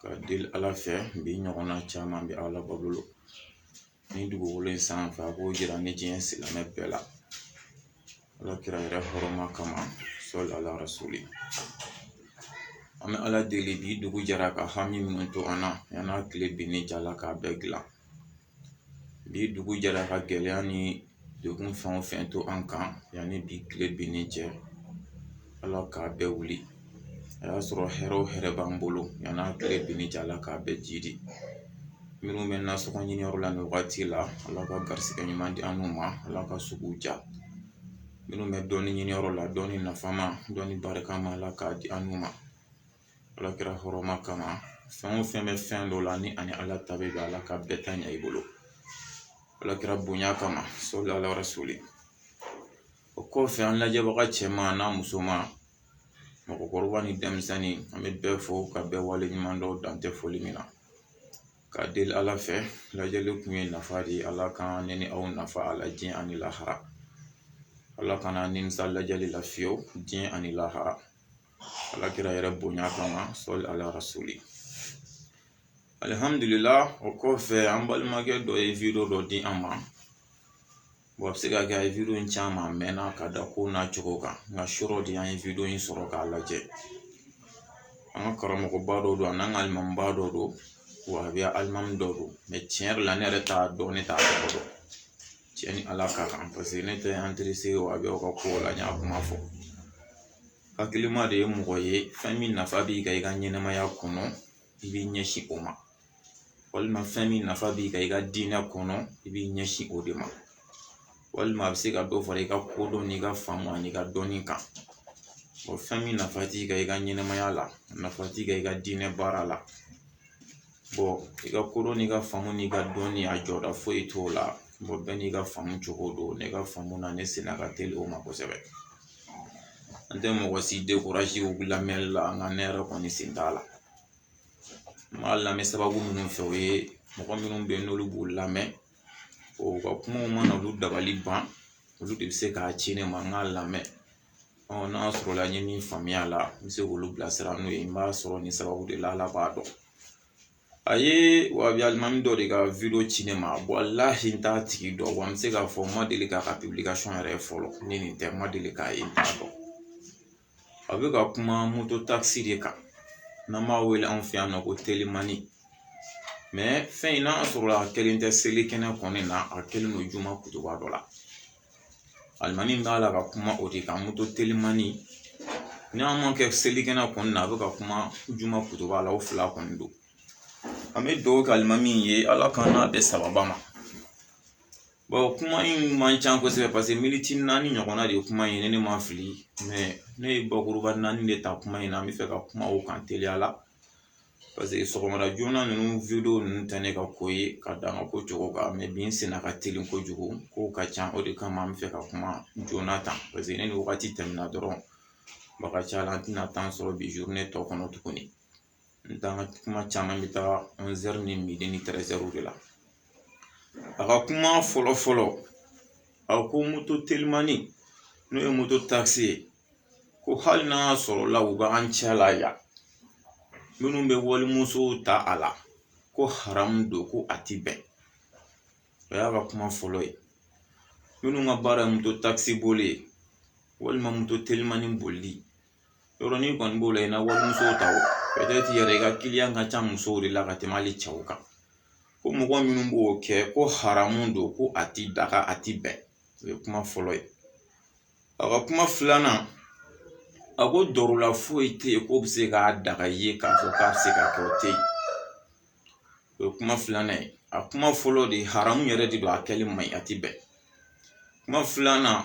Ka deli ala fɛ bi ɲɔgɔnna caman bɛ ala bolo ni dugukolo in sanfɛ a k'o jira an ni diɲɛ silamɛ bɛɛ la ala kira yɛrɛ hɔrɔnma kama sɔli ala rasuli an bɛ ala deli bi dugu jɛra ka hami minnu to an na yan'a kile binni cɛ ala k'a bɛɛ gilan bi dugu jɛra ka gɛlɛya ni degun fɛn o fɛn to an kan yanni bi kile binni cɛ ala k'a bɛɛ wuli a y'a sɔrɔ hɛrɛ o hɛrɛ b'an bolo yann'a kile binni cɛ ala k'a bɛɛ jiidi minnu bɛ nasɔngɔ ɲini yɔrɔ la nin wagati la ala ka garisigɛ ɲuman di an n'u ma ala ka sugu diya minnu bɛ dɔnni ɲini yɔrɔ la dɔnni nafama dɔnni barikama ala k'a di an n'u ma Ala kira hɔrɔnma kama fɛn o fɛn bɛ fɛn dɔ la ni a ni ala ta bɛ bɛn ala ka bɛɛ ta ɲɛ i bolo ala kira bonya kama sɔli ala rasuli o kɔfɛ an lajɛbaga cɛman n'a musoman mɔgɔkɔrɔba ni denmisɛnnin an bɛ bɛɛ fo ka bɛɛ wale ɲuman dɔn dan tɛ foli min na ka deli ala fɛ lajɛli kun ye nafa de ye ala ka ne ni aw nafa a la diɲɛ ani lahara ala kan'an nimisa lajɛli la fiyewu diɲɛ ani lahara ala kira yɛrɛ bonya kama sɔli ala rasuli alihamdulila o kɔfɛ an balimakɛ dɔ ye wideyo dɔ di an ma wa a bɛ se ka kɛ a ye wideyo in caman a mɛnna ka da ko n'a cogo kan nka surɔ de an ye wideyo in sɔrɔ k'a lajɛ an ka karamɔgɔba dɔ don an'an ka alimamiba dɔ don wahabi alimami dɔ don tiɲɛ yɛrɛ la ne yɛrɛ t'a dɔn ne t'a tɔgɔ dɔn cɛn ni ala ka kan paseke ne tɛ ɛntɛrese wahabiyaw ka ko la n y'a kuma fɔ hakilima de ye mɔgɔ ye fɛn min nafa b'i kan i ka ɲɛnamaya kɔnɔ i b'i ɲɛsin o ma walima fɛn min nafa b'i kan i ka diinɛ kɔnɔ i b'i ɲɛsin o de ma walima a bɛ se ka dɔ fara i ka kodɔn n'i ka faamu ani ka dɔnni kan fɛn min nafa t'i kan i ka ɲɛnamaya la nafa t'i kan i ka diinɛ baara la i ka kodɔn n'i ka faamu n'i ka dɔnni a jɔda foyi t'o la bon bɛɛ n'i ka faamu cogo don ne ka faamu na ne senna ka teli o ma kosɛbɛ an tɛ mɔgɔ si dekuraze u lamɛnli la nka ne yɛrɛ kɔni sen t'a la n b'a lamɛn sababu minnu fɛ o ye mɔgɔ minnu bɛ yen n'olu b'u lamɛn u ka kumaw mana olu dabali ban olu de bɛ se k'a ci ne ma n k'a lamɛn n'a sɔrɔla n ye min faamuya a la n bɛ se k'olu bilasira n'o ye n b'a sɔrɔ nin sababu de la ala b'a dɔn a ye wahabi alimami dɔ de ka wideyo ci ne ma n t'a tigi dɔn wa n bɛ se k'a fɔ n ma deli k'a ka pibilikasiyɔn yɛrɛ ye fɔlɔ ni nin tɛ n ma deli k'a ye n t'a dɔn a bɛ ka kuma moto takisi de kan n'an b'a wele anw fɛ yan nɔ ko telimani fɛn in n'a sɔrɔ a kɛlen tɛ seli kɛnɛ kɔni na a kɛlen don juma kutuba dɔ la alimami b'a la ka kuma o de kan moto telimani n'a ma kɛ selikɛnɛ kɔni na a bɛ ka kuma juma kutuba la o fila kɔni don an bɛ dugawu kɛ alimami ye ala k'an n'a bɛn sababa ma bɔn kuma in man ca kosɛbɛ paseke miniti naani ɲɔgɔnna de ye kuma in ye ni n ma fili mɛ ne ye bakuruba naani de ta kuma in na n b'a fɛ ka kuma o kan teliya la paseke sɔgɔmada joona ninnu wideyo ninnu tɛ ne ka ko ye ka da n ka ko cogo kan mɛ bi n senna ka teli kojugu kow ka ca o de kama an b'a fɛ ka kuma joona tan paseke ni nin wagati tɛmɛna dɔrɔn a ka ca la an tɛna tan sɔrɔ bi zurune tɔ kɔnɔ tuguni n'o t'an ka kuma caman bɛ taa ɔnzɛri ni midi ni tɛrɛzɛri de la a ka kuma fɔlɔ fɔlɔ a ko moto telimani n'o ye moto takisi ye ko hali n'a sɔrɔla u b'an cɛ la yan minnu bɛ walimusow ta a la ko haramu don ko a ti bɛn o y'a ka kuma fɔlɔ ye minnu ka baara ye moto takisi boli ye walima moto telimani boli yɔrɔnin kɔni b'o la i na walimusow ta o petɛtiri yɛrɛ i ka kiliyan ka ca musow de la ka tɛmɛ hali cɛw kan ko mɔgɔ minnu b'o kɛ ko haramu don ko a ti daga a ti bɛn o ye kuma fɔlɔ ye a ka kuma filanan a ko dɔrɔla foyi tɛ yen k'o bɛ se k'a daga ye k'a fɔ k'a bɛ se ka kɛ o tɛ yen o ye kuma filanan ye a kuma fɔlɔ de haramu yɛrɛ de don a kɛli man ɲi a ti bɛn kuma filanan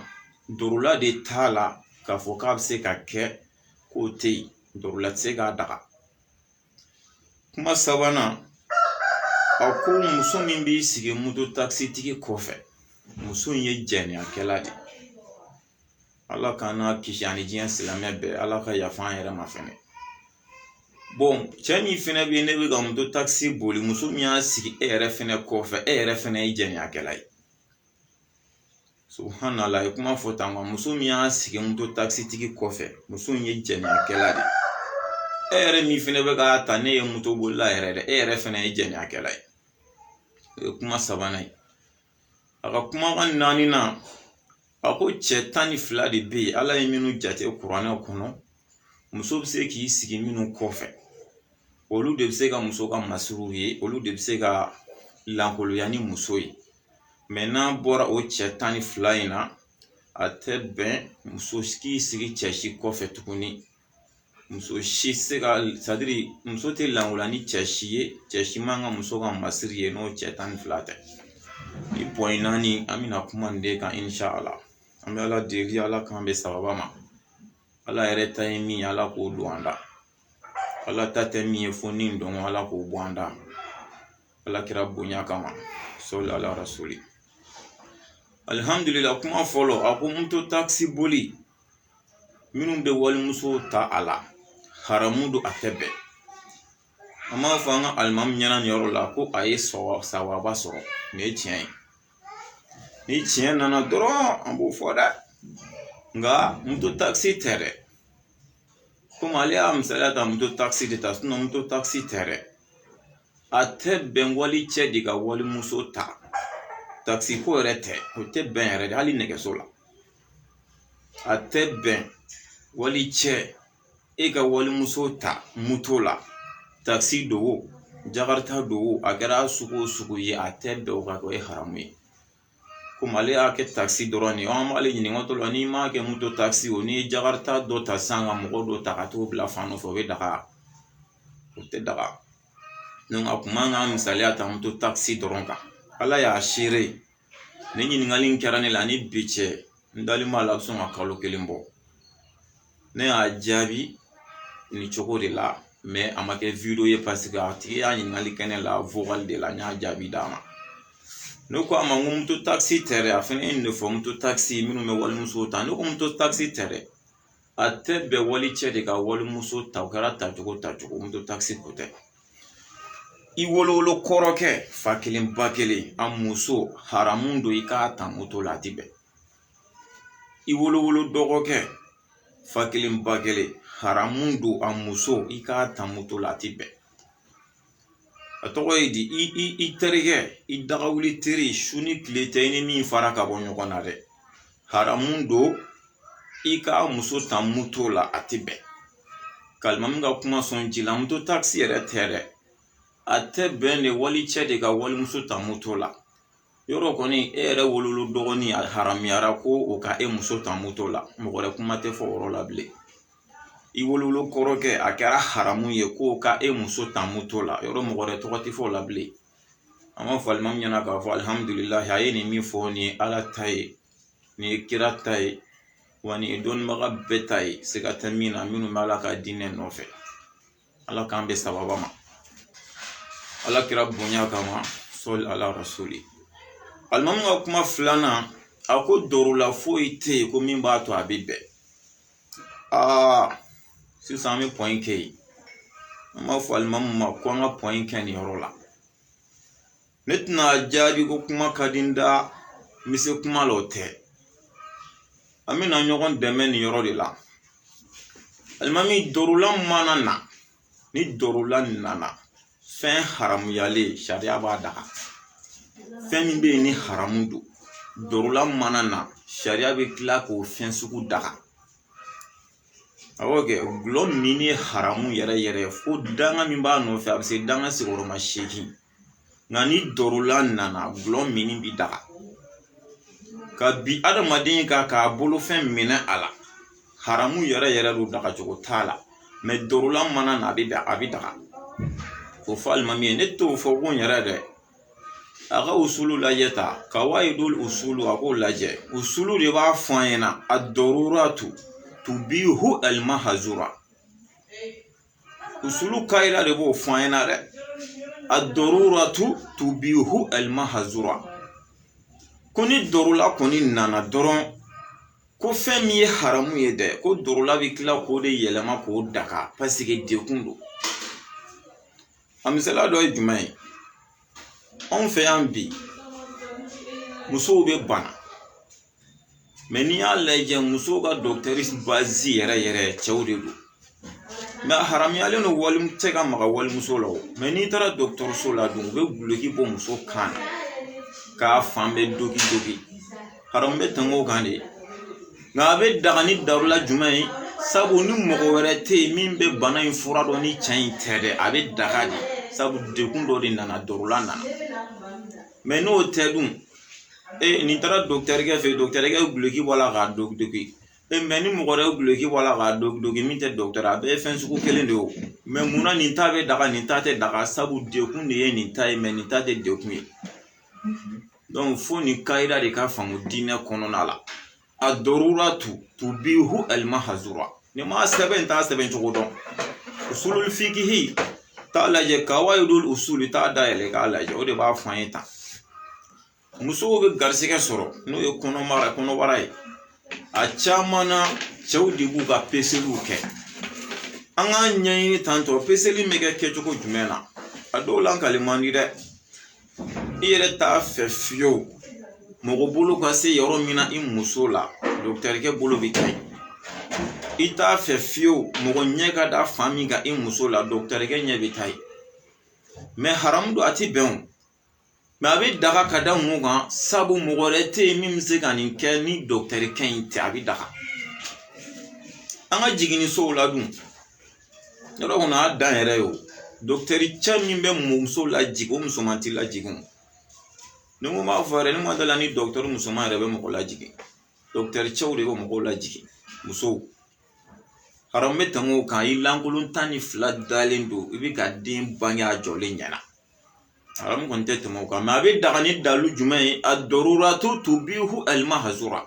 dɔrɔla de t'a la k'a fɔ k'a bɛ se ka kɛ k'o tɛ yen dɔrɔla tɛ se k'a daga kuma sabanan a ko muso min b'i sigi moto takisitigi kɔfɛ muso in ye jɛnɛyakɛla de ala k'an n'a kisi ani diɲɛ silamɛ bɛɛ ala ka yafa an yɛrɛ ma fɛnɛ bɔn cɛ min fɛnɛ bɛ yen e bɛ ka moto takisi boli muso min y'a sigi e yɛrɛ fɛnɛ kɔfɛ e yɛrɛ fɛnɛ ye jɛnɛyakɛla ye subahanalayi kuma fɔ tan nka muso min y'a sigi moto takisi tigi kɔfɛ muso in ye jɛnɛyakɛla de e yɛrɛ min fɛnɛ bɛ k'a ta n'e ye moto bolila yɛrɛ dɛ e yɛrɛ fɛnɛ ye jɛnɛyakɛla ye o ye kuma sabanan ye a ka kumakan naaninan a ko cɛ tan ni fila de bɛ yen ala ye minnu jate kuranɛ kɔnɔ muso bɛ se k'i sigi minnu kɔfɛ olu de bɛ se ka muso ka masiriw ye olu de bɛ se ka lankolonya ni muso ye mɛ n'a bɔra o cɛ tan ni fila in na a tɛ bɛn muso k'i sigi cɛ si kɔfɛ tuguni muso si se ka sadiri muso tɛ lankolonya ni cɛ si ye cɛ si man ka muso ka masiri ye n'o cɛ tan ni fila tɛ nin pɔyin naani an bɛna kuma nin de kan inisala an bɛ ala deli ala k'an bɛn sababa ma ala yɛrɛ ta ye min ye ala k'o don an da ala ta tɛ min ye fo ni dɔn ala k'o bɔ an da ala kira bonya kama sɔli ala rasuli alihamdulila kuma fɔlɔ a ko moto takisi boli minnu bɛ walimusow ta a la haramu don a tɛ bɛn an b'a fɔ an ka alimami ɲɛna nin yɔrɔ la ko a ye sawaba sɔrɔ nin ye tiɲɛ ye ni tiɲɛ nana dɔrɔn an b'o fɔ dɛ nka moto takisi tɛ dɛ komi ale y'a misaliya ta moto takisi de ta sinon moto takisi tɛ dɛ a tɛ bɛn wali cɛ de ka walimuso ta takisi ko yɛrɛ tɛ o tɛ bɛn yɛrɛ de hali nɛgɛso la a tɛ bɛn wali cɛ e ka walimuso ta moto la takisi don o jakarita don o a kɛra sugu o sugu ye a tɛ bɛn o ka kɛ o ye haramu ye komi ale y'a kɛ takisi dɔrɔn de ye an b'ale ɲininka o la n'i m'a kɛ moto takisi o n'i ye jakarita dɔ ta sisan ka mɔgɔ dɔ ta ka t'o bila fan dɔ fɛ o bɛ daga o tɛ daga donc a kun man kan ka misaliya ta moto takisi dɔrɔn kan ala y'a seere ni ɲininkali in kɛra ne la ni bi cɛ n dalen b'a la a bɛ sɔn ka kalo kelen bɔ ne y'a jaabi nin cogo de la mais a ma kɛ video ye paseke a tigi y'a ɲininkali kɛ ne la vocal de la n y'a jaabi d'a ma ne ko a ma n ko moto takisi tɛ dɛ a fɛnɛ ye nin de fɔ moto takisi minnu bɛ walimusow ta ne ko moto takisi tɛ dɛ a tɛ bɛn wali cɛ de ka walimuso ta o kɛra tacogo o tacogo moto takisi ko tɛ i wolowolo kɔrɔkɛ fa kelen ba kelen a muso haramu don i k'a ta moto la a tɛ bɛn i wolowolo dɔgɔkɛ fa kelen ba kelen haramu don a muso i k'a ta moto la a tɛ bɛn a tɔgɔ ye di i terikɛ i dagawuli teri su ni tile tɛ i ni min fara ka bɔ ɲɔgɔn na dɛ haramu don i k'a muso ta moto la a tɛ bɛn k'alimamu ka kuma sɔn ji la moto takisi yɛrɛ tɛ dɛ a tɛ bɛn de wali cɛ de ka walimuso ta moto la yɔrɔ kɔni e yɛrɛ wolowolo dɔgɔnin a haramuyara ko o ka e muso ta moto la mɔgɔ wɛrɛ kuma tɛ fɔ o yɔrɔ la bilen i wolowolo kɔrɔkɛ a kɛra haramu ye k'o ka e muso ta moto la yɔrɔ mɔgɔ wɛrɛ tɔgɔ tɛ fɔ o la bilen an b'a fɔ alimami ɲɛna k'a fɔ alihamudulila a ye nin min fɔ nin ye ala ta ye nin ye kira ta ye wa nin ye dɔnnibaga bɛɛ ta ye siga tɛ min na minnu b'ala ka diinɛ nɔfɛ ala k'an bɛn sawaba ma ala kira bonya kama sɔli ala rasuli alimamu ka kuma filanan a ko dɔrɔla foyi tɛ yen ko min b'a to a bɛ bɛn aa sisan an bɛ pɔyin kɛ yen an b'a fɔ alimamu ma ko an ka pɔyin kɛ nin yɔrɔ la ne tɛna jaabi ko kuma ka di n da n bɛ se kuma la o tɛ an bɛna ɲɔgɔn dɛmɛ nin yɔrɔ de la alimami dɔrɔla mana na ni dɔrɔla nana fɛn haramuyalen sariya b'a daga fɛn min bɛ yen ni haramu don dɔrɔla mana na sariya bɛ tila k'o fɛn sugu daga a b'o kɛ gulɔmin ye haramu yɛrɛ yɛrɛ fo danga min b'a nɔfɛ a bɛ se danga sigiyɔrɔma seegin nka ni dɔrɔla nana gulɔmin bi daga ka bin adamaden kan k'a bolofɛn minɛ a la haramu yɛrɛ yɛrɛ don daga cogo t'a la mɛ dɔrɔla mana na a bɛ daga o fɔ alimami ye ne t'o fɔ ko n yɛrɛ dɛ a ka usulu lajɛ ta kawayidul usulu a k'o lajɛ usulu de b'a fɔ an ɲɛna a dɔrɔratu tubihu alimahazura usulu kayida de b'o fɔ an ɲɛna dɛ a dɔrɔratu tubihu alimahazura ko ni dɔrɔla kɔni nana dɔrɔn ko fɛn min ye haramu ye dɛ ko dɔrɔla bɛ tila k'o de yɛlɛma k'o daga paseke dekun don a misaliya dɔ ye jumɛn ye anw fɛ yan bi musow bɛ bana mɛ n'i y'a lajɛ musow ka dɔgɔtɛri bazi yɛrɛ yɛrɛ cɛw de don mɛ a haramuyalen don walicɛ ka maga walimuso la o mɛ n'i taara dɔgɔtɔrɔso la dun u bɛ guloki bɔ muso kan na k'a fan bɛɛ dogi dogi haramu bɛ tɛmɛ o kan de nka a bɛ daga ni darula jumɛn ye sabu ni mɔgɔ wɛrɛ tɛ yen min bɛ bana in fura dɔn ni cɛ in tɛ dɛ a bɛ daga de sabu dekun dɔ de nana dɔrɔla nana mɛ n'o tɛ dun ee nin taara dɔkitɛrikɛ fɛ yen dɔkitɛrikɛ ye gulɔki bɔ a la k'a dogi dogi mɛ ni mɔgɔ wɛrɛ ye gulɔki bɔ a la k'a dogi dogi min tɛ dɔkitɛri ye a bɛɛ ye fɛn sugu kelen de ye o mɛ munna nin ta bɛ daga nin ta tɛ daga sabu dekun de ye nin ta ye mɛ nin ta tɛ dekun ye dɔnki fo nin kayida de ka faamu diinɛ kɔnɔna la a dɔrɔratu tubihu alimahazura n'i m'a sɛbɛn t'a sɛbɛn cogo dɔn usulul fikihi t'a lajɛ kawayidul usuli t'a dayɛlɛ k'a lajɛ o de b'a fɔ an ye tan musow bɛ garisɛgɛ sɔrɔ n'o ye kɔnɔbara ye a caman na cɛw de b'u ka peseliw kɛ an k'a ɲɛɲini tantɔ peseli bɛ kɛ kɛcogo jumɛn na a dɔw lakali man di dɛ i yɛrɛ t'a fɛ fiyewu mɔgɔ bolo ka se yɔrɔ min na i muso la dɔkitɛrikɛ bolo bɛ taa yen i t'a fɛ fiyewu mɔgɔ ɲɛ ka da fan min kan i muso la dɔkitɛrikɛ ɲɛ bɛ taa yen mɛ haramu don a tɛ bɛn o mɛ a bɛ daga ka da mun kan sabu mɔgɔ wɛrɛ tɛ yen min bɛ se ka nin kɛ ni dɔkitɛrikɛ in tɛ a bɛ daga an ka jiginnisow la dun yɔrɔ kɔni y'a dan yɛrɛ ye o dɔkitɛri cɛ min bɛ muso lajigin o musoman tɛ lajigin ni n ko n b'a fɔ yɛrɛ ne ma d'a la ni dɔkitɛri musoman yɛrɛ bɛ mɔgɔ lajigin dɔkitɛri cɛw de bɛ mɔgɔw lajigin musow haramu bɛ tɛmɛ o kan i lankolon tan ni fila dalen don i bɛ ka den bange a jɔlen ɲɛna haramu kɔni tɛ tɛmɛ o kan mɛ a bɛ daga ni dalu jumɛn ye adaruratu tubihu almahzura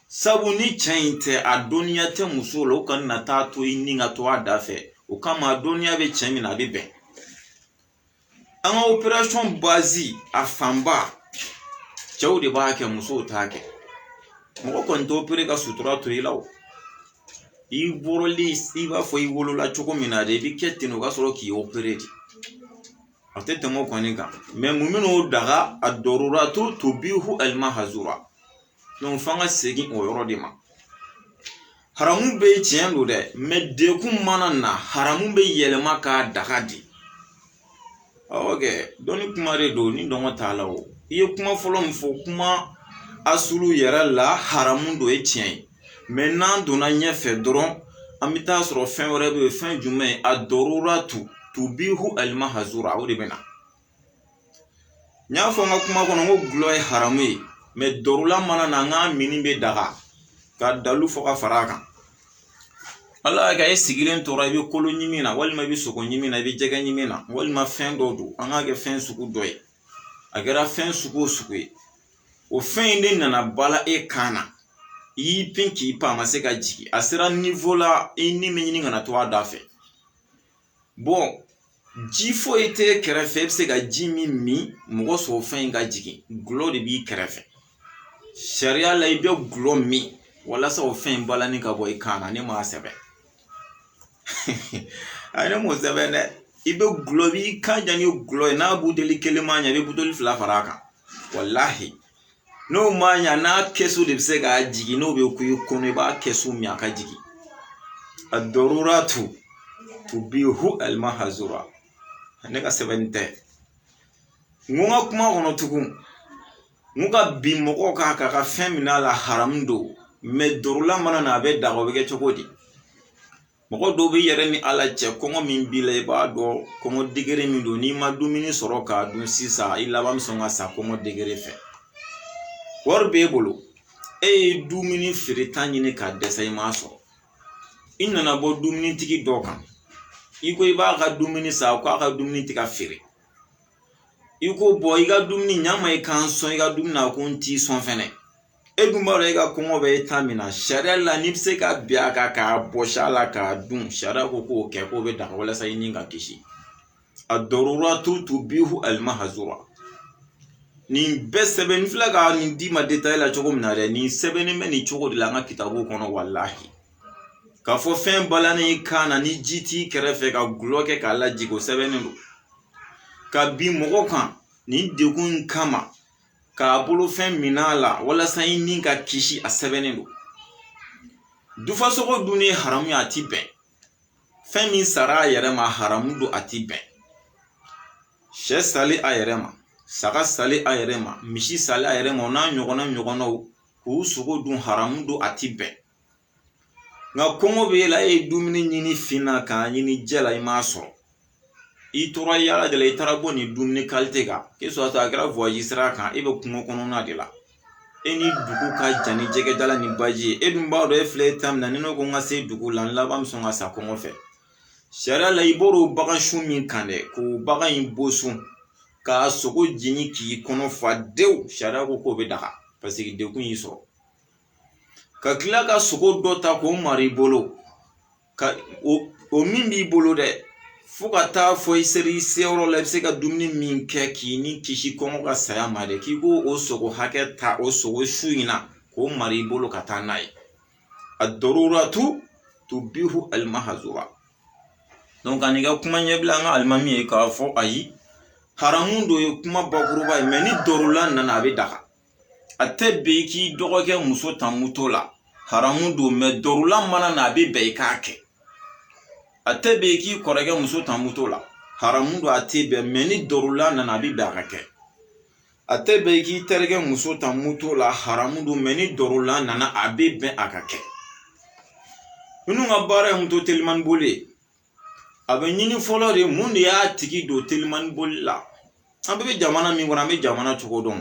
sabu ni cɛ in tɛ a dɔnniya tɛ muso la o kana taa to i ni ka to a da fɛ o kama a dɔnniya bɛ cɛ min na a bɛ bɛn an ka operasɔn bazi a fanba cɛw de b'a kɛ musow t'a kɛ mɔgɔ kɔni tɛ opere ka sutura to i la o i bɔrɔli i b'a fɔ i wolola cogo min na de i bɛ kɛ ten o ka sɔrɔ k'i opere de a tɛ tɛmɛ o kɔni kan mɛ mun bɛ n'o daga adaruratu tubihu almahzura dɔnki f'an ka segin o yɔrɔ de ma haramu bɛ tiɲɛ don dɛ mɛ degun mana na haramu bɛ yɛlɛma k'a daga de oke dɔnni kuma de don nidungɔ t'a la o i ye kuma fɔlɔ min fɔ kuma asulu yɛrɛ la haramu don o ye tiɲɛ ye n'an donna ɲɛfɛ dɔrɔn an bɛ taa sɔrɔ fɛn wɛrɛ bɛ yen fɛn jumɛn ye adaruratu tubihu almahzura o de bɛ na n y'a fɔ n ka kuma kɔnɔ n ko gulɔ ye haramu ye mɛ darura mana na n k'a minni bɛ daga ka dalu fɔ ka fara a kan ala y'a kɛ e sigilen tora i bɛ kolo ɲimi na walima i bɛ sogo ɲimi na i bɛ jɛgɛ ɲimi na walima fɛn dɔ don an k'a kɛ fɛn sugu dɔ ye a kɛra fɛn sugu o sugu ye o fɛn in de nana bala e kan na i y'i pin k'i pan a ma se ka jigin a sera nivo la i ni bɛ ɲini ka na to a da fɛ bɔn ji foyi tɛ kɛrɛfɛ i bɛ se ka ji min min mɔgɔ sɔrɔ fɛn in ka jigin gulɔ de b'i kɛrɛfɛ sariya la i bɛ gulɔ min walasa o fɛn in balani ka bɔ i kan na ne m'a sɛbɛn a ne m'o sɛbɛn dɛ i bɛ gulɔ i b'i kan ja ni gulɔ ye n'a buteli kelen ma ɲɛ i bɛ buteli fila fara a kan walahi n'o ma ɲa n'a kɛsu de bɛ se k'a jigin n'o bɛ kun i kɔnɔ i b'a kɛsu min a ka jigin adaruratu tubihu almahzura ne ka sɛbɛn tɛ n ko n ka kuma kɔnɔ tugun N ko ka bin mɔgɔw kan k'a ka fɛn mina a la haramu don mɛ darura mana na a bɛ daga o bɛ kɛ cogo di mɔgɔ dɔw b'i yɛrɛ ni ala cɛ kɔngɔ min b'i la i b'a dɔn kɔngɔ degere min don n'i ma dumuni sɔrɔ k'a dun sisan i laban bɛ sɔn ka sa kɔngɔ degere fɛ wari b'e bolo e ye dumuni feereta ɲini k'a dɛsɛ i m'a sɔrɔ i nana bɔ dumunitigi dɔ kan i ko i b'a ka dumuni san k'a ka dumuni tɛ ka feere i ko bɔ i ka dumuni ɲa ma i ka n sɔn i ka dumuni na ko n t'i sɔn fɛnɛ e dun b'a dɔn e ka kɔngɔ bɛ e ta min na sariya la n'i bɛ se ka bin a kan k'a bɔsi a la k'a dun sariya ko k'o kɛ k'o bɛ daga walasa i ni ka kisi adɔruratu tubihu alimahazura nin bɛɛ sɛbɛn n filɛ ka nin d'i ma detaye la cogo min na dɛ nin sɛbɛnnen bɛ nin cogo de la an ka kitabu kɔnɔ walahi k'a fɔ fɛn balannen i kan na ni ji t'i kɛrɛfɛ ka gulɔ kɛ k'a lajigin o sɛbɛnnen don ka bin mɔgɔ kan nin degun in kama k'a bolo fɛn minɛ a la walasa i ni ka kisi a sɛbɛnnen don dufasogo dunni ye haramu ye a ti bɛn fɛn min sara a yɛrɛ ma haramu don a ti bɛn sɛ salen a yɛrɛ ma saga salen a yɛrɛ ma misi salen a yɛrɛ ma o n'a ɲɔgɔnna ɲɔgɔnnaw k'u sogo dun haramu don a ti bɛn nka kɔngɔ b'e la e ye dumuni ɲini fin na k'a ɲini jɛ la i m'a sɔrɔ i tora yaala de la i taara bɔ nin dumuni kalite kan swa a kɛra wɔyazi sira kan e bɛ kungo kɔnɔna de la e ni dugu ka jan ni jɛgɛjalan ni baji ye e dun b'a dɔn e filɛ e ta min na ni ne ko n ka se dugu la n laban bɛ sɔn ka sa kɔngɔ fɛ sariya la i bɔr'o bagan su min kan dɛ k'o bagan in boso k'a sogo jeni k'i kɔnɔ fa dewu sariya ko k'o bɛ daga paseke degun y'i sɔrɔ ka tila ka sogo dɔ ta k'o mara i bolo o min b'i bolo dɛ fo ka taa fo i sera i seyɔrɔ la i bɛ se ka dumuni min kɛ k'i ni kisi kɔngɔ ka saya ma dɛ k'i k'o o sogo hakɛ ta o sogo su in na k'o mara i bolo ka taa n'a ye adɔruratu tubihu alimahazura donc ka n'i ka kuma ɲɛbila an ka alimami ye k'a fɔ ayi haramu don ye kuma bakuruba ye mɛ ni dɔrula nana a bɛ daga a tɛ bɛn i k'i dɔgɔkɛ muso ta moto la haramu don mɛ dɔrula mana na a bɛ bɛn i k'a kɛ a tɛ bɛn i k'i kɔrɔkɛ muso ta moto la haramu don a tɛ bɛn mɛ ni dɔrula nana a bɛ bɛn a ka kɛ a tɛ bɛn i k'i terikɛ muso ta moto la haramu don mɛ ni dɔrula nana a bɛ bɛn a ka kɛ minnu ka baara ye moto telimani boli ye a bɛ ɲini fɔlɔ de mun de y'a tigi don telimani boli la an bɛɛ bɛ jamana min kɔnɔ an bɛ jamana cogo dɔn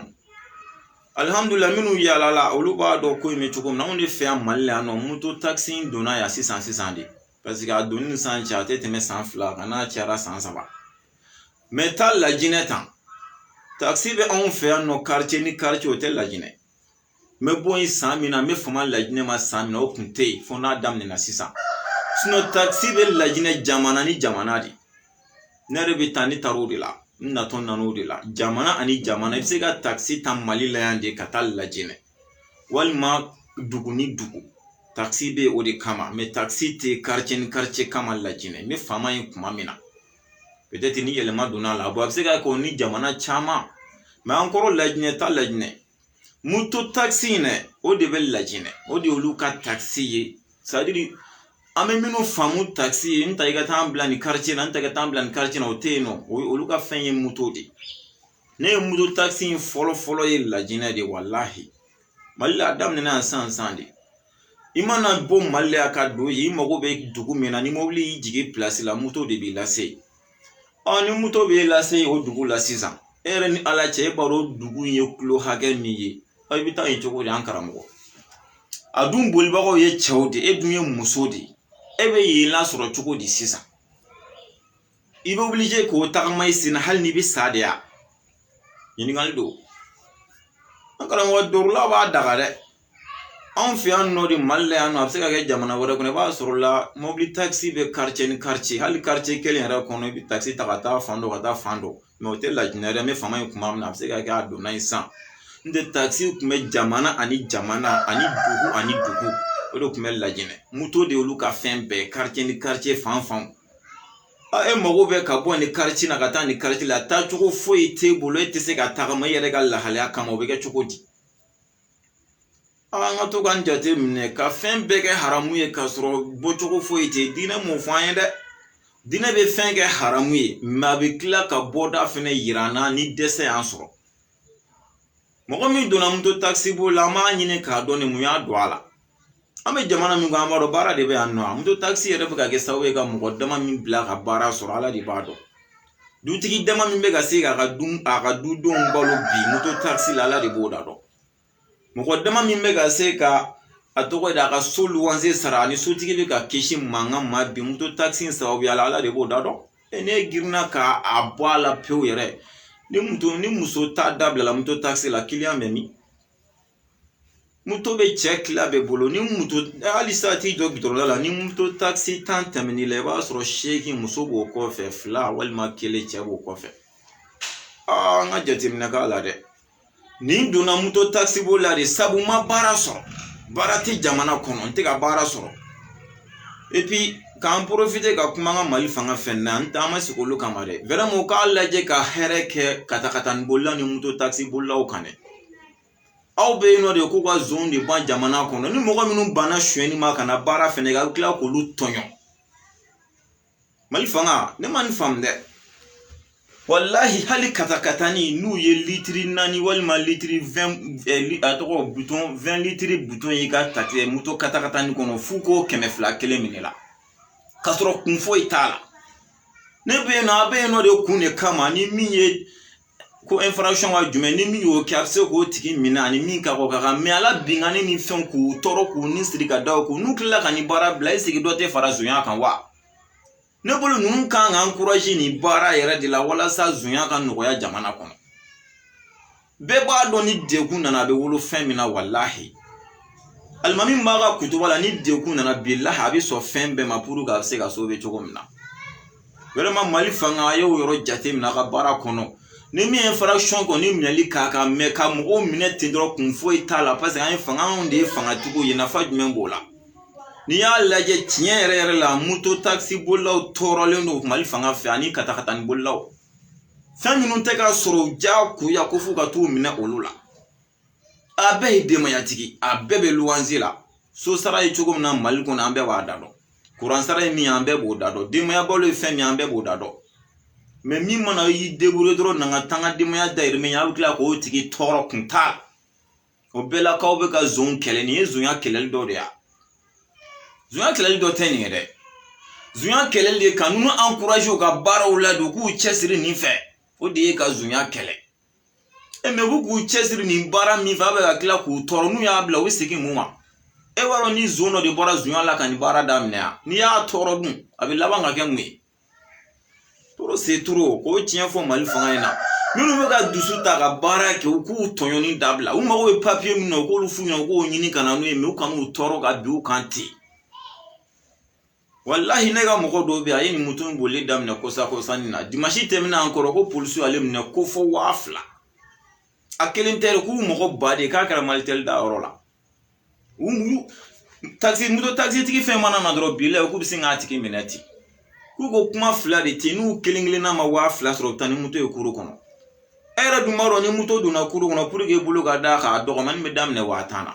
alihamudulila minnu yaalala olu b'a dɔn ko in bɛ cogo min na anw de fɛ yan mali la yan nɔ moto takisi donna yan sisan sisan de paseke a donni ni san cɛ a tɛ tɛmɛ san fila kan n'a cayara san saba mɛ taa lajinɛ tan takisi bɛ anw fɛ yan nɔ karice ni karice o tɛ lajinɛ n bɛ bɔ yen san min na n bɛ fama lajinɛ ma san min na o kun tɛ yen fo n'a daminɛna sisan sinɔn takisi bɛ lajinɛ jamana ni jamana de ne yɛrɛ bɛ taa ne taar'o de la n natɔ nan'o de la jamana ani jamana i bɛ se ka takisi ta mali la yan de ka taa lajinɛ walima dugu ni dugu takisi bɛ o de kama mɛ takisi tɛ karice ni karice kama lajinɛ n bɛ fama yen kuma min na peut-être ni yɛlɛma donna a la a bɛ se ka kɛ o ni jamana caman mais encore lajinɛ ta lajinɛ moto takisi in dɛ o de bɛ lajinɛ o de y'olu ka takisi ye c'est-à-dire an bɛ minnu faamu takisi ye n ta i ka taa bila nin karice la n ta i ka taa bila nin karice la o tɛ yen nɔ o ye olu ka fɛn ye moto de ne ye moto takisi in fɔlɔ fɔlɔ ye lajinɛ de walahi mali la a daminɛna yan sisan de i mana bɔ mali la ka don yen i mago bɛ dugu min na ni mobili y'i jigin pilasi la moto de b'i lase ɔ ni moto b'i lase o dugu la sisan e yɛrɛ ni ala cɛ e b'a dɔn dugu in ye kilo hakɛ min ye ɔ i bɛ taa yen cogo di an karamɔgɔ a dun bolibagaw ye cɛw de e dun ye muso de e bɛ yen lasɔrɔ cogo di sisan i bɛ obligé k'o tagama i sen na hali n'i bɛ sa de ya ɲininkali don an karamɔgɔ darula b'a daga dɛ anw fɛ yan nɔ de mali la yan nɔ a bɛ se ka kɛ jamana wɛrɛ kɔnɔ i b'a sɔrɔ la mobili takisi bɛ karice ni karice hali karice kelen yɛrɛ kɔnɔ i bɛ takisi ta ka taa fan dɔ ka taa fan dɔ mɛ o tɛ lajinɛ dɛ n bɛ fama yen kuma min na a bɛ se ka kɛ a donna yen sisan n tɛ takisi tun bɛ jamana ani jamana ani dugu ani dugu o de tun bɛ lajinɛ moto de y'olu ka fɛn bɛɛ karice ni karice fan fanw e mago bɛ ka bɔ nin karice la ka taa nin karice la taa cogo foyi t'e bolo e tɛ se ka tagama i yɛrɛ ka lahalaya kama o bɛ kɛ cogo di an ka to k'an jate minɛ ka fɛn bɛɛ kɛ haramu ye k'a sɔrɔ bɔcogo foyi tɛ diinɛ m'o fɔ an ye dɛ diinɛ bɛ fɛn kɛ haramu ye mɛ a bɛ tila ka bɔda fɛnɛ yira an na ni dɛsɛ y'an sɔrɔ mɔgɔ min donna moto takisi boli la an b'a ɲini k'a dɔn ni mun y'a don a la an bɛ jamana min kan an b'a dɔn baara de bɛ yan nɔ moto takisi yɛrɛ bɛ ka kɛ sababu ye ka mɔgɔ dama min bila ka baara sɔrɔ ala de b'a dɔn dutigi dama min bɛ ka se k'a ka du a ka dudenw balo bi moto takisi la ala de b'o da dɔn mɔgɔ dama min bɛ ka se ka a tɔgɔ da a ka so luwanse sara ani sotigi bɛ ka kisi mankan ma bi moto takisi in sababuya la ala de b'o da dɔn ni e girinna ka a bɔ a la pewu yɛrɛ ni muso ni muso ta dabilala moto takisi la kiliyan bɛ min moto bɛ cɛ kila bɛɛ bolo ni moto halisa t'i jɔ gidɔrɔnda la ni moto takisi tan tɛmɛn'i la i b'a sɔrɔ seegin muso b'o kɔfɛ fila walima kelen cɛ b'o kɔfɛ aa an ka jateminɛ k'a la dɛ ne donna moto takisi boli la de sabu n ma baara sɔrɔ baara tɛ jamana kɔnɔ n tɛ ka baara sɔrɔ epi k'an porofite ka kuma ka mali fanga fɛn na an ta ma sigi olu kama dɛ vraiment k'a lajɛ ka hɛrɛ kɛ katakatanin bolila ni moto takisi bolilaw kan dɛ aw bɛ yen nɔ de k'u ka zon de ban jamana kɔnɔ ni mɔgɔ minnu banna sonyɛni ma ka na baara fɛnɛ kɛ a bɛ tila k'olu tɔɲɔ mali fanga ne ma nin faamu dɛ walahi hali katakatani n'u ye litiri naani walima litiri eh, a tɔgɔ bidɔn vɛn litiri bidɔn y'i ka tatigɛ moto katakatani kɔnɔ f'u ko kɛmɛ fila kelen minɛ la k'a sɔrɔ kun foyi t'a la ne bɛ yen nɔ a bɛ yen o de kun de kama ni min ye ko ɛnfarakisiyɔn wa jumɛn ni min y'o kɛ a bɛ se k'o tigi minɛ ani min ka ko ka kan mɛ ala binkanni ni fɛn k'u tɔɔrɔ k'u ni siri ka da u kun n'u tilala ka ni baara bila ɛsike dɔ tɛ fara zonya kan wa ne bolo ninnu kan ka ankuraze nin baara yɛrɛ de la walasa zonya ka nɔgɔya jamana kɔnɔ bɛɛ b'a dɔn ni degun nana a bɛ wolo fɛn min na walahi alimami min b'a ka kutuba la ni degun nana bilahi a bɛ sɔn fɛn bɛɛ ma puruke a bɛ se ka sove cogo min na vrɛman mali fanga a y'o yɔrɔ jate minɛ a ka baara kɔnɔ ni min ye ɛnfarakisiyɔn k'o ni minɛli ka kan mɛ ka mɔgɔw minɛ ten dɔrɔn kun foyi t'a la paseke an ye fanga anw de ye fanga tigiw ye nafa jumɛn b'o la n'i y'a lajɛ tiɲɛ yɛrɛ yɛrɛ la moto takisi bolilaw tɔɔrɔlen don mali fanga fɛ ani katakatani bolilaw fɛn minnu tɛ ka sɔrɔ jagoya ko f'u ka t'u minɛ olu la a bɛɛ ye denbayatigi a bɛɛ bɛ luwanze la so sara ye cogo min na mali kɔnɔ an bɛɛ b'a da dɔn kuran sara ye min an bɛɛ b'o da dɔn denbaya balo ye fɛn min an bɛɛ b'o da dɔn mɛ min mana y'i deburuye dɔrɔn na ka taa n'a ka denbaya dayirimɛ ye a bɛ tila k'o tigi tɔɔrɔ kun t'a o bɛɛ la k'aw bɛ ka zon kɛlɛ nin ye zonya kɛlɛli dɔ de ye zonya kɛlɛli dɔ tɛ nin ye dɛ zonya kɛlɛli de ka ninnu ankuraze u ka baaraw la don k'u cɛsiri nin fɛ o de ye ka zonya kɛlɛ ye mɛ u bɛ k'u cɛsiri nin baara min fɛ a bɛ ka tila k'u tɔɔrɔ n'u y'a bila u bɛ segin mun ma e b'a dɔn ni zon dɔ de bɔra zonya la ka nin baara daminɛ yan n'i y'a tɔɔrɔ dun a bɛ laban ka kɛ mun ye toro se toro k'o tiɲɛ fɔ mali fanga in na minnu bɛ ka dusu ta ka baara kɛ u k'u tɔɲɔni dabila u mago bɛ papiye min na u k'olu f'u ɲɛna u k'o ɲini ka na n'u ye mɛ u kan'u tɔɔrɔ ka bin u kan ten walahi ne ka mɔgɔ dɔw bɛ a ye nin moto in boli daminɛ kɔsa kɔsa nin na dimasi tɛmɛna ankɔri ko polisiw y'ale minɛ ko fɔ waa fila a kelen tɛ k'u mɔgɔ ba de k'a kɛra malitɛli da yɔrɔ la u takisi moto takisitigi fɛn mana na dɔrɔn bilahi k'u bɛ sin k'a tigi minɛ ten k'u ko kuma fila de tɛ n'u kelen kelenna ma waa fila sɔrɔ u bɛ taa ni moto ye kuru kɔnɔ e yɛrɛ dun b'a dɔn ni moto donna kuru kɔnɔ puruke bolo ka d'a kan a dɔgɔmani bɛ daminɛ waa tan na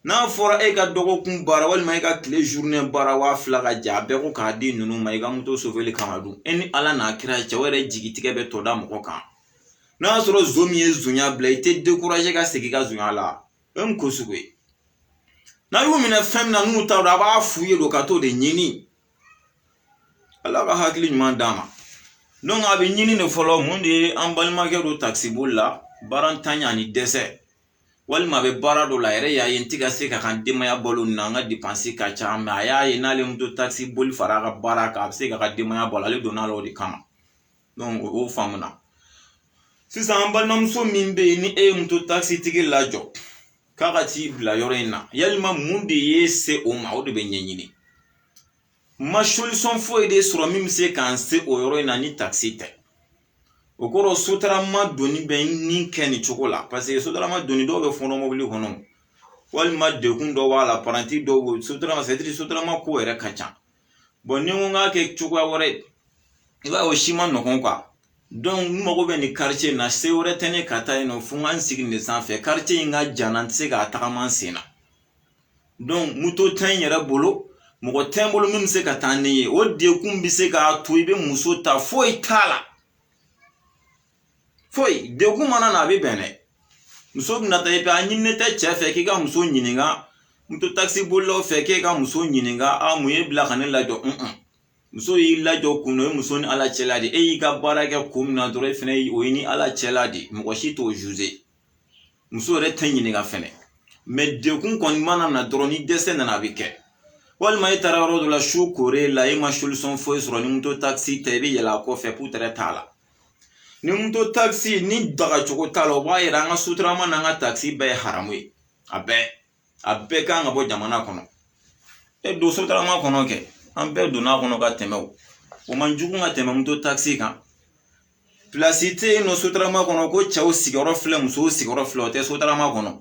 n'a fɔra e ka dɔgɔkun baara walima e ka tile zurune baara waa fila ka ja a bɛɛ ko k'a di ninnu ma i ka moto soveli kama dun e ni ala n'a kira cɛ o yɛrɛ jigi tigɛ bɛ to da mɔgɔ kan n'a y'a sɔrɔ zon min ye zonya bila i tɛ dekuraze ka segin i ka zonya la o ye ko sugu ye n'a y'u minɛ fɛn min na n'u t'a dɔn a b'a f'u ye don ka t'o de ɲini ala ka hakili ɲuman d'a ma donc a bɛ ɲini de fɔlɔ mun de ye an balimakɛ don takisi boli la baara ntanya ani dɛsɛ walima a bɛ baara dɔ la a yɛrɛ y'a ye n tɛ ka se k'a ka denbaya balo nin na an ka depansi ka ca mɛ a y'a ye n'ale moto takisi boli fara a ka baara kan a bɛ se k'a ka denbaya balo ale donna a la o de kama donc o faamuna sisan an balimamuso min bɛ yen ni e ye moto takisi tigi lajɔ k'a ka t'i bila yɔrɔ in na yalima mun de y'i se o ma o de bɛ ɲɛɲini n ma solisɔn foyi de sɔrɔ min bɛ se k'an se o yɔrɔ in na ni takisi tɛ o kɔrɔ sotarama donni bɛ ne kɛ nin cogo la paseke sotarama donni dɔw bɛ fɔɔnɔ mobili kɔnɔ walima dekun dɔ b'a la paranti dɔw bɛ sotarama sɛtiri sotarama ko yɛrɛ ka ca bɔn ni n ko k'a kɛ cogoya wɛrɛ i b'a ye o si man nɔgɔn kuwa donc n mago bɛ nin karice in na se wɛrɛ tɛ ne ka taa yen nɔ fo n ka n sigi nin de sanfɛ karice in ka jan na n tɛ se k'a tagama n sen na moto tɛ n yɛrɛ bolo mɔgɔ tɛ n bolo min bɛ se ka taa ni n ye o dekun bɛ se k'a to i bɛ muso ta foyi t'a la foyi dekun mana na a bɛ bɛn dɛ muso bɛna taa i fɛ a ɲininen tɛ cɛ fɛ k'i ka muso ɲininka moto takisi bolilaw fɛ k'e ka muso ɲininka a mun y'i bila ka ne lajɔ muso y'i lajɔ kun na o ye muso ni ala cɛla de e y'i ka baara kɛ kun min na dɔrɔn e fana o ye ni ala cɛla de mɔgɔ si t'o juze muso yɛrɛ tɛ ɲininka fɛnɛ mɛ dekun kɔni mana na dɔrɔn ni dɛsɛ nana a bɛ kɛ walima e taara yɔrɔ dɔ la su kora e la e ma solisɔn foyi sɔrɔ ni moto takisi tɛ i bɛ yɛlɛ a kɔfɛ k'u tɛrɛ t'a la ni moto takisi nin dagacogo t'a la o b'a yira an ka sotarama n'an ka takisi bɛɛ ye haramu ye a bɛɛ a bɛɛ kan ka bɔ jamana kɔnɔ e don sotarama kɔnɔ kɛ an bɛɛ donna a kɔnɔ ka tɛmɛ o o man jugu ka tɛmɛ moto takisi kan pilasi tɛ yen nɔ sotarama kɔnɔ ko cɛw sigiyɔrɔ filɛ musow sigiyɔrɔ filɛ o tɛ sotarama kɔnɔ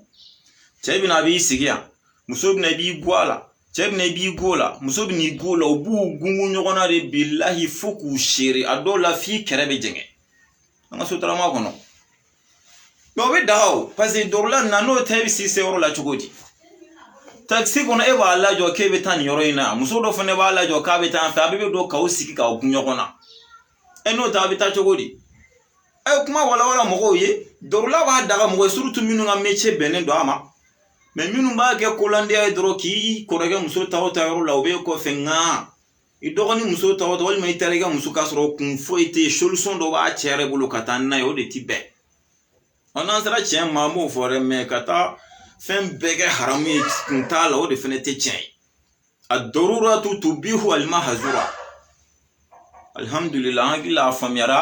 cɛ bɛna a b'i sigi yan muso bɛna i b'i gu a la cɛ bɛna i b'i go la muso bɛna i go la u b'u gungun ɲɔgɔn na de bilahi fo k'u sɛrɛ a dɔw la f'i kɛrɛ bɛ jɛngɛ an ka sotarama kɔnɔ mɛ o bɛ daga o paseke dɔrɔla na n'o tɛ i bɛ s'i seyɔrɔ la cogo di takisi kɔnɔ e b'a lajɔ k'e bɛ taa nin yɔrɔ in na muso dɔ fana b'a lajɔ k'a bɛ taa fɛ a bɛɛ bɛ don k'aw sigi k'aw kun ɲɔgɔn na e n'o tɛ a bɛ taa cogo di a ye kuma walawala mɔgɔw ye dɔrɔla b'a daga mɔgɔ ye surutu minnu ka mece bɛnnen don a ma mɛ minnu b'a kɛ kolandenya ye dɔrɔn k'i kɔrɔkɛ muso ta o taayɔrɔ la o bɛ kɔfɛ nka i dɔgɔnin muso ta o walima i teri ka muso ka sɔrɔ kun foyi tɛ yen solisɔn dɔ b'a cɛ yɛrɛ bolo ka taa n'a ye o de tɛ bɛn ɔ n'an sera tiɲɛ ma an b'o fɔ dɛ mɛ ka taa fɛn bɛɛ kɛ haramu ye kun t'a la o de fɛnɛ tɛ tiɲɛ ye adaruratu tubihu alimahazura alihamudulila an hakili la a faamuyara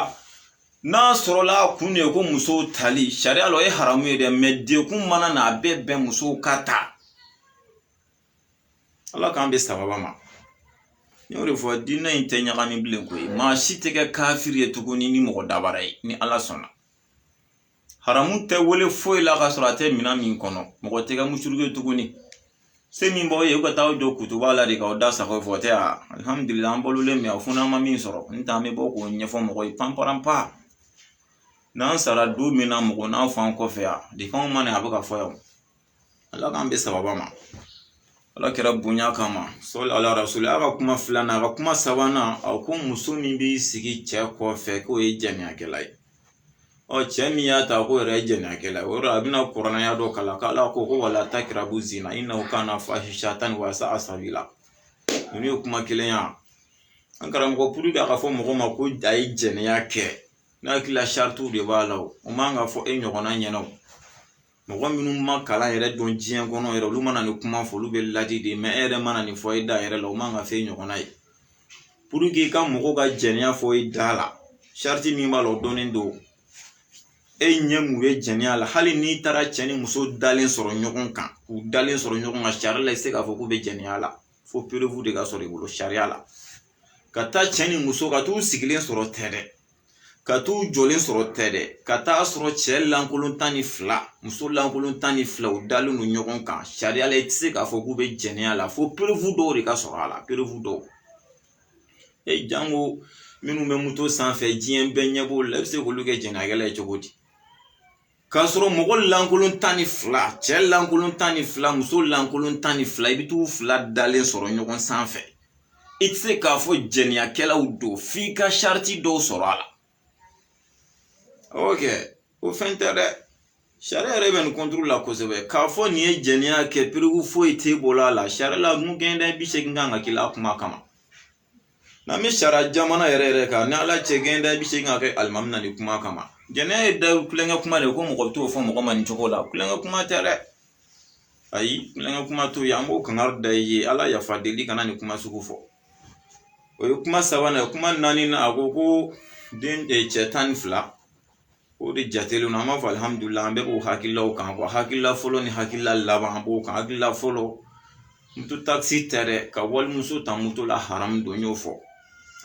n'a sɔrɔla a kun de ye ko musow tali sariya la o ye haramu ye dɛ mɛ dekun mana na a bɛ bɛn musow ka ta ala k'an bɛ sababa ma n y'o de fɔ diinɛ in tɛ ɲagami bilen koyi maa si tɛ kɛ kafiri ye tuguni ni mɔgɔ dabara ye ni ala sɔnna haramu tɛ wele foyi la ka sɔrɔ a tɛ minɛn min kɔnɔ mɔgɔ tɛ kɛ musuruku ye tuguni se min b'u ye u ka taa jɔ kutuba la de k'u da sago fɔ tɛ a alihamudulila an balolen mɛ a fo n'an ma min sɔrɔ n'o t'an bɛ bɔ k'o ɲɛfɔ mɔgɔ ye panparanpa n'an sara don min na mɔgɔ n'a fɔ an kɔfɛ yan de anw mana a bɛ ka fɔ yan ala k'an bɛ sababa ma ala kira bonya kama sɔli ala rasuli a ka kuma filanan a ka kuma sabanan a ko muso min b'i sigi cɛ kɔfɛ k'o ye jɛnɛyakɛla ye ɔ cɛ min y'a ta k'o yɛrɛ ye jɛnɛyakɛla ye o yɔrɔ a bɛna kuranɛ aya dɔ kalan k'ala ko ko wala takirabu zina inahu kana fahisatan wa saa sabilan nin ye kuma gɛlɛn ye an karamɔgɔ puruke a k'a fɔ mɔgɔ ma ko a ye jɛnɛya kɛ n hakili la saritiw de b'a la o man ka fɔ e ɲɔgɔnna ɲɛna o mɔgɔ minnu ma kalan yɛrɛ dɔn diɲɛ kɔnɔ yɛrɛ olu mana nin kuma fɔ olu bɛ ladi de mɛ e yɛrɛ mana nin fɔ e da yɛrɛ la o man ka se ɲɔgɔnna ye puruke i ka mɔgɔw ka jɛnɛya fɔ i da la sariti min b'a la o dɔnnen don e ɲɛ mun bɛ jɛnɛya la hali n'i taara cɛ ni muso dalen sɔrɔ ɲɔgɔn kan k'u dalen sɔrɔ ɲɔgɔn kan sariya la i tɛ se k'a fɔ k'u bɛ jɛnɛya la fo perefu de ka sɔrɔ i bolo sariya la ka taa cɛ ni muso ka t'u sigilen sɔrɔ tɛ dɛ ka t'u jɔlen sɔrɔ tɛ dɛ ka taa sɔrɔ cɛ lankolon tan ni fila muso lankolon tan ni fila u dalen don ɲɔgɔn kan sariya la i tɛ se k'a fɔ k'u bɛ jɛnɛya la fo perefu dɔw de ka sɔrɔ a la perefu dɔw e janko minnu bɛ moto sanfɛ diɲɛ bɛɛ ɲɛ b'o la i bɛ se k'olu kɛ jɛnɛyakɛla ye cogo di k'a sɔrɔ mɔgɔ lankolon tan ni fila cɛ lankolon tan ni fila muso lankolon tan ni fila i bɛ t'u fila dalen sɔrɔ ɲɔgɔn sanfɛ i tɛ se k'a fɔ jɛniyakɛlaw don f'i ka sariti dɔw sɔrɔ a la ok o fɛn tɛ dɛ sariya yɛrɛ bɛ nin kɔnturu la kosɛbɛ k'a fɔ nin ye jɛniya kɛ perewu foyi t'e bolo a la sariya la mun gɛɲɛ de bɛ segin ka k'i la kuma kama n'an bɛ sariya jamana yɛrɛ yɛrɛ kan ni ala cɛ gɛɲɛ de bɛ segin ka kɛ alimami na nin kuma kama jɛnɛya ye da tulonkɛ kuma de ye ko mɔgɔ bɛ t'o fɔ mɔgɔ ma nin cogo la tulonkɛ kuma tɛ dɛ ayi tulonkɛ kuma to yen an b'o kangari da i ye ala yafa deli kana nin kuma sugu fɔ o ye kuma sabanan ye kuma naaninan a ko ko den cɛ tan ni fila o de jatelen don an b'a fɔ alihamudulila an bɛɛ b'o hakililaw kan hakilila fɔlɔ ni hakilila laban an b'o kan hakilila fɔlɔ moto takisi tɛ dɛ ka walimuso ta moto la haramu don n y'o fɔ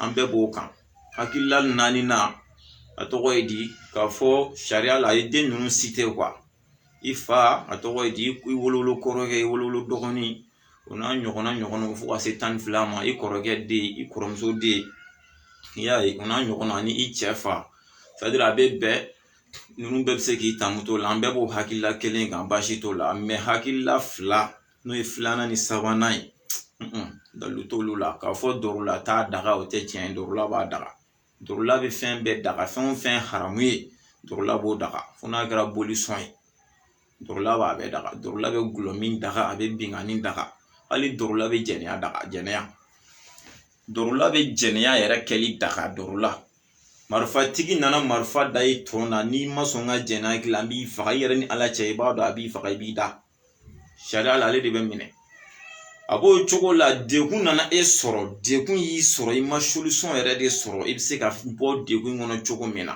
an bɛɛ b'o kan hakilila naaninan a tɔgɔ ye di k'a fɔ sariya la a ye den ninnu si tɛ i fa a tɔgɔ ye di i wolo kɔrɔkɛ i wolo dɔgɔnin o n'a ɲɔgɔnna ɲɔgɔn fo ka se tan ni fila ma i kɔrɔkɛ den i kɔrɔmuso den i y'a ye o n'a ɲɔgɔnna ni i cɛ fa a bɛ bɛɛ ninnu bɛɛ bɛ se k'i ta moto la an bɛɛ b'o hakilila kelen kan baasi t'o la mɛ hakilila fila n'o ye filanan ni sabanan ye dalu t'olu la k'a fɔ darura t'a daga o tɛ tiɲɛ ye darura b'a daga darura bɛ fɛn bɛɛ daga fɛn o fɛn haramu ye darura b'o daga fo n'a kɛra bolisɔn ye darura b'a bɛɛ daga darura bɛ dɔlɔmin daga a bɛ binkanni daga hali darura bɛ jɛnɛya daga jɛnɛya darura bɛ jɛnɛya yɛrɛ kɛli daga darura marifatigi nana marifa da i tɔn na n'i ma sɔn ka jɛnɛya k'i la a b'i faga i yɛrɛ ni ala cɛ i b'a dɔn a b'i faga i b'i da sariya la ale de bɛ minɛ a b'o cogo la degun nana e sɔrɔ degun y'i sɔrɔ i ma solisiyɔn yɛrɛ de sɔrɔ i bɛ se ka bɔ degun in kɔnɔ cogo min na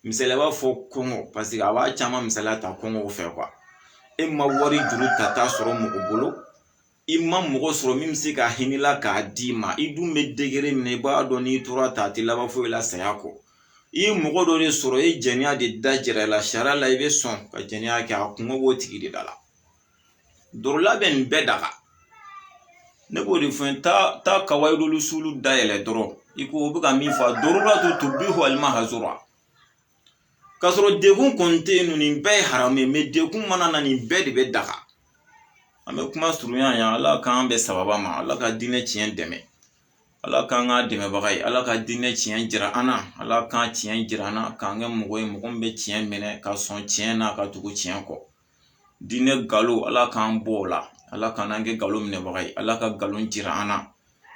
misali b'a fɔ kɔngɔ paseke a b'a caman misaliya ta kɔngɔ fɛ kuwa e ma wari juru tata sɔrɔ mɔgɔ bolo i ma mɔgɔ sɔrɔ min bɛ se ka hinɛ i la k'a d'i ma i dun bɛ degere min na i b'a dɔn n'i tora tan a tɛ laban foyi la saya kɔ i ye mɔgɔ dɔ de sɔrɔ i jɛnɛya de dajira i la sariya la i bɛ sɔn ka jɛnɛya kɛ a kunko b'o tigi de da la darura bɛ nin bɛɛ daga ne b'o de fɔ taa kawayidul usulu dayɛlɛ dɔrɔn i ko o bɛ ka min fɔ adaruratu tubihu alimahazura k'a sɔrɔ degun kɔni tɛ yen nɔ nin bɛɛ ye haramu ye mɛ degun mana na nin bɛɛ de bɛ daga an bɛ kuma surunya yan ala k'an bɛn sababa ma ala ka diinɛ tiɲɛ dɛmɛ ala k'an k'a dɛmɛbaga ye ala ka diinɛ tiɲɛ jira an na ala ka tiɲɛ jira an na k'an kɛ mɔgɔ ye mɔgɔ min bɛ tiɲɛ minɛ ka sɔn tiɲɛ na ka tugu tiɲɛ kɔ diinɛ nkalon ala k'an bɔ o la ala kan'an kɛ nkalon minɛbaga ye ala ka nkalon jira an na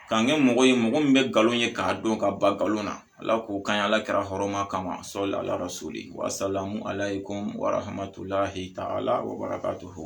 k'an kɛ mɔgɔ ye mɔgɔ min bɛ nkalon ye k'a dɔn ka ban nkalon na ala k'o k'an ye ala kira hɔrɔma kama sali ala rasuli wasalamu alayikum warahamatulayi taala wabarakatuhu